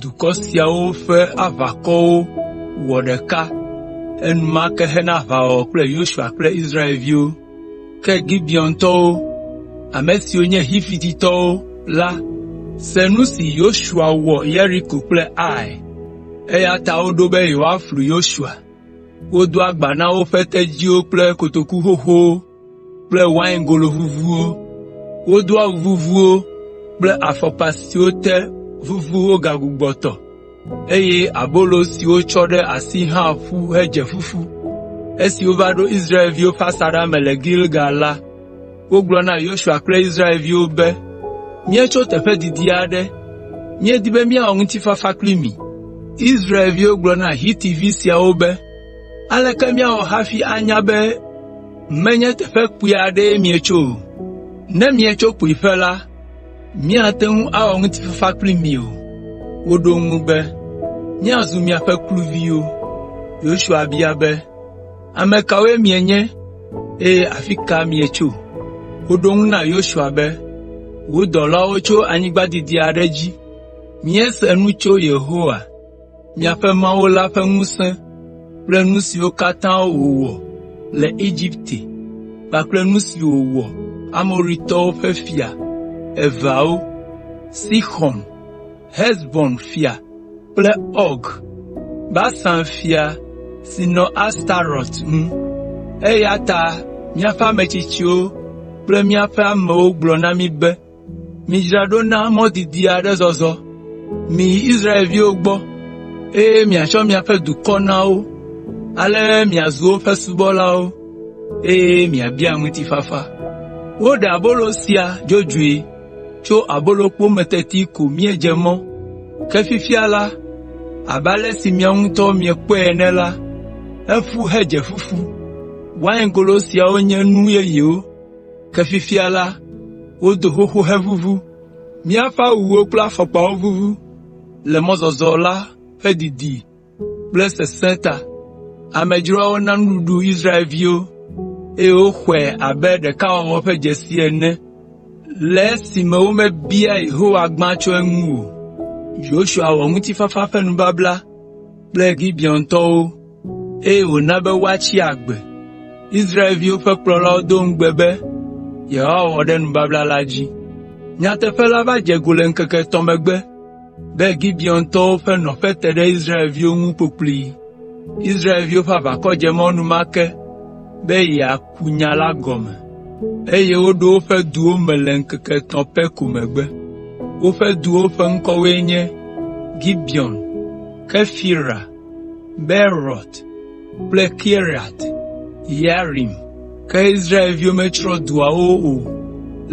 dukɔ siawo ƒe aʋakɔwo wɔ ɖeka enumake hena aʋawɔwɔ kple Yosua kple Israelviwo. Ke Gibeontɔwo, ame siwo nye Xivititɔwo la se nu si Yosua wɔ Yeriko kple Ai, eya ta woɖo be yewoaflu Yosua. Wodo agba na woƒe tedziwo kple kotoku xoxowo kple waingolo vuvuwo. Wodo awu vuvuwo kple afɔkpa siwo te vuvu wogbugbɔ tɔ, eye abolo si wotsɔ ɖe asi hã ƒu hedze fufu. Esi wova ɖo Israelviwo ƒe asaɖa me le Gilgal la, wogblɔ na Yosua kple Israelviwo be, “Míetso teƒe didi aɖe, míedi be míawɔ ŋutifafa kpli mi.” Israelviwo gblɔ na Hitivi siawo be, “Aleke míawɔ hafi anya be menye teƒe kpui aɖee míetso o? Ne míetso kpuiƒe la, míate ŋu awɔ ŋutifafa kpli mi o.” Woɖo eŋu be, “Míazu miaƒe kluviwo.” Yosua bia be, “Ame kawoe mienye, eye afi ka mietso?” Woɖo eŋu na Yosua be, “Wò dɔlawo tso anyigba didi aɖe dzi. Míese nu tso Yehowa, miaƒe Mawu la ƒe ŋusẽ kple nu siwo katã wòwɔ le Egipte kpakple nu si wòwɔ Amoritɔwo ƒe fia eveawo, Sixɔn, Hesbon fia kple Ɔg, Basan fia si nɔ Astarot ŋu. Eya ta míaƒe ame tsitsiwo kple míaƒe amewo gblɔ na mí be, “Midzra ɖo na mɔ didi aɖe zɔzɔ. Miyi Israelviwo gbɔ, eye miatsɔ miaƒe dukɔ na wo. Ale miazu woƒe subɔlawo, eye miabia ŋutifafa.” Woɖe abolo sia dzodzoe tso abolokpo me teti ko míedze mɔ, ke fifia la, abe ale si miawo ŋutɔ miekpɔe ene la, eƒu hedze fufu. Waingolo siawo nye nu yeyewo. Ke fifia la, wodo xoxo heʋuʋu. Míaƒe awuwo kple afɔkpawo vuvu le mɔzɔzɔ la ƒe didi kple sesẽ ta. Amedzroawo na nuɖuɖu Israelviwo, eye woxɔe abe ɖekawɔwɔ ƒe dzesi ene le esime womebia Yehowa gbã tso eŋu o. eye wòna be woatsi agbe. Israelviwo ƒe kplɔlawo do ŋugbe be yewoawɔ ɖe nubabla la dzi. Nyateƒe la va dze go le ŋkeke etɔ̃ megbe be Gibeontɔwo ƒe nɔƒe te ɖe Israelviwo ŋu kpokploe. Israelviwo ƒe aʋakɔ dze mɔ enumake be yeaku nya la gɔme, eye woɖo woƒe duwo me le ŋkeke etɔ̃ pɛ ko megbe. Woƒe duwo ƒe ŋkɔwoe nye: Gibeon, Kefira, Beerot kple Kiriat Yearim. Ke Israelviwo metsrɔ̃ duawo o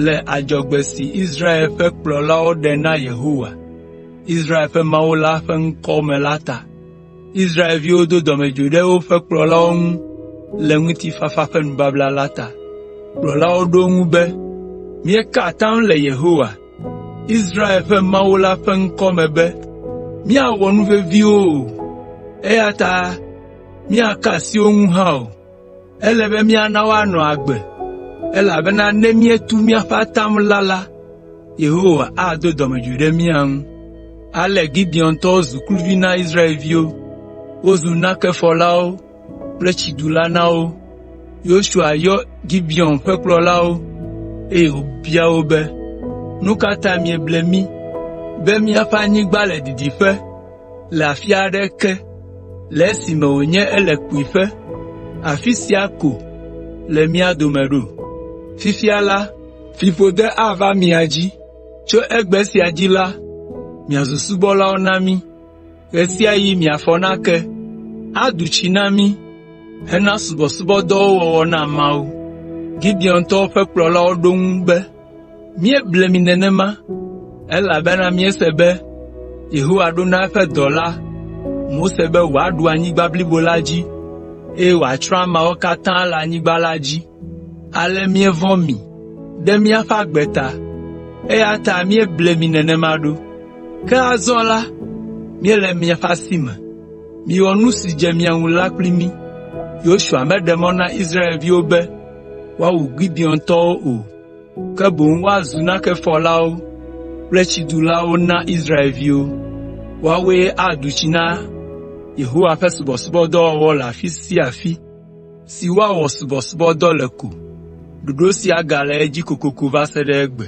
le adzɔgbe si Israel ƒe kplɔlawo ɖe na Yehowa, Israel ƒe Mawu la ƒe ŋkɔ me la ta. Israelviwo do dɔmedzoe ɖe woƒe kplɔlawo ŋu le ŋutifafa ƒe nubabla la ta. Kplɔlawo ɖo eŋu be, “Míeka atam le Yehowa, Israel ƒe Mawu la ƒe ŋkɔ me be, “Míawɔ nu vevi wo o, eya ta míaka asi wo ŋu hã o. Ele be míana woanɔ agbe, elabena ne míetu míaƒe atam la la, Yehowa ado dɔmedzoe ɖe mía ŋu.” Ale Gibeontɔwo zu kluvi na Israelviwo. Wozu nakefɔlawo kple tsiɖu la na wo. Yosua yɔ Gibeon ƒe kplɔlawo, eye wòbia wo be, “Nu ka ta mieble mí be míaƒe anyigba le didiƒe le afi aɖe ke le esime wònye ele kpuiƒe afi sia ko le mía dome ɖo? Fifia la, fiƒode ava mia dzi. Tso egbe sia dzi la, miazu subɔlawo na mí.” ɣesiaɣi miafɔ nake, adu tsi na mí hena subɔsubɔdɔwo wɔwɔ na Mawu.” Gibeontɔwo ƒe kplɔlawo ɖo eŋu be, “Míeble mi nenema, elabena míese be Yehowa ɖo na eƒe dɔla, Mose be wòaɖu anyigba blibo la dzi, eye wòatsrɔ̃ ameawo katã le anyigba la dzi.” Ale míevɔ̃ mi ɖe míaƒe agbe ta, eya ta míeble mi nenema ɖo. Ke azɔ la, míele miaƒe asi me. Miwɔ nu si dze mia ŋu la kpli mí.” Yosua meɖe mɔ na Israelviwo be woawu Gibeontɔwo o, ke boŋ woazu nakefɔlawo kple tsidulawo na Israelviwo. Woawoe adu tsi na Yehowa ƒe subɔsubɔdɔwɔwɔ le afi sia afi. si woawɔ subɔsubɔdɔ le ko. Ɖoɖo sia gale edzi kokoko va se ɖe egbe.